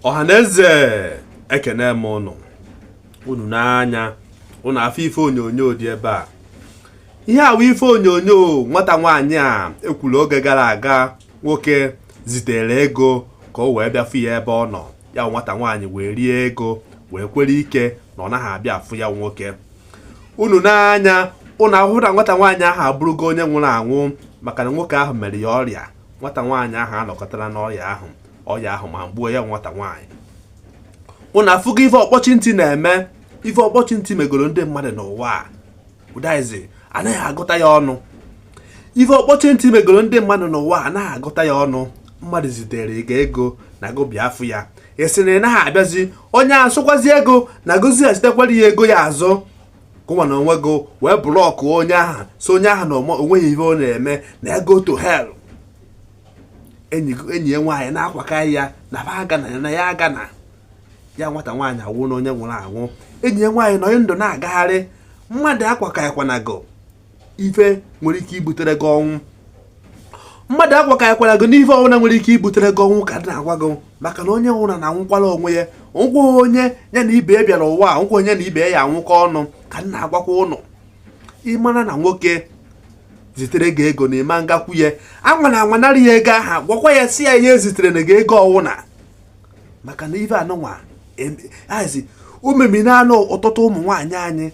ọhaneze ekene m ụnụ unu n'anya ụnụ afụ ife onyonyo dị ebe a ihe a wụ ife onyonyo nwata nwaanyị a ekwuru oge gara aga nwoke zitere ego ka o wee bịa fụ ya ebe ọ nọ ya nwata nwaanyị wee rie ego wee kwere ike na ọ naghị abịa afụ ya nwoke unu n'anya ụnụ ahụ na nwata nwaanyị ahụ abụrụgo onye nwụrụ anwụ maka na nwoke ahụ mere ya ọrịa nwata nwaanyị ahụ anọkọtara n'ọya ahụ ọya ahụ ma gbuo ya nwata nwaanyị ụnụ afụgo ife ọkpọchi ntị na-eme ife ọkpọchi ntị megoro ndị mmadụ n'ụwa a ụdaizi anaghị agụta ya ọnụ ife ọkpọchi ntị megoro ndị mmadụ n'ụwa anaghị agụta ya ọnụ mmadụ zitere gị ego na gị bịa fụ ya ị sị na ị naghị abịazi onye a sịkwazie gị na gị zighachitekwara ya ego ya azụ gịnwa n'onwe gị wee block onye ahụ sị onye ahụ na o nweghị ihe ọ na-eme na ya go to hell enyi ya nwaanyị na-akwakarị ya na ya agana na ya agana ya nwata nwaanyị awụna onye nwụrụ anwụ enyi ya nwaanyị nọ ndụ na-agagharị mmadụ akwakarịkwana gị ife nwere ike ibutere gị ọnwụ mmadụ akwakarịkwana gị n'ife ọwụna nwere ike ibutere gị ọnwụ ka dị na-agwa gị maka na onye nwụrụ na anwụkwala onwe ya nwụkwa onye ya na ibe ya bịara ụwa a onye na ibe ya anwụkọ ọnụ ka m na-agwakwa ụnụ ị mara na nwoke zitere gị ego na ị ma ngakwu ya anwana anwa narị ya ego ahụ gwakwa ya sị ya eziterena gị ego ọwụna maka na ife anụnwa azi ememinana ọtụtụ ụmụ nwaanyị anyị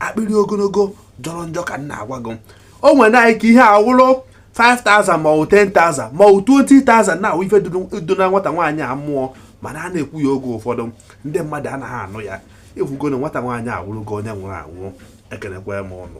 akpịrị ogologo jọrọ njọ ka m na-agwa gị o nwere ike ihe a wụrụ 5000 ma ọ 10000 ma ọ 20000 na ọ wụ ife duna nwata nwaanyị a mmụọ mana a na-ekwu ya oge ụfọdụ ndị mmadụ anaghị anụ ya ị fụgo na nwata nwaanyị awụrụgo onye nwụrụ anwụ ekenekwa m ụnụ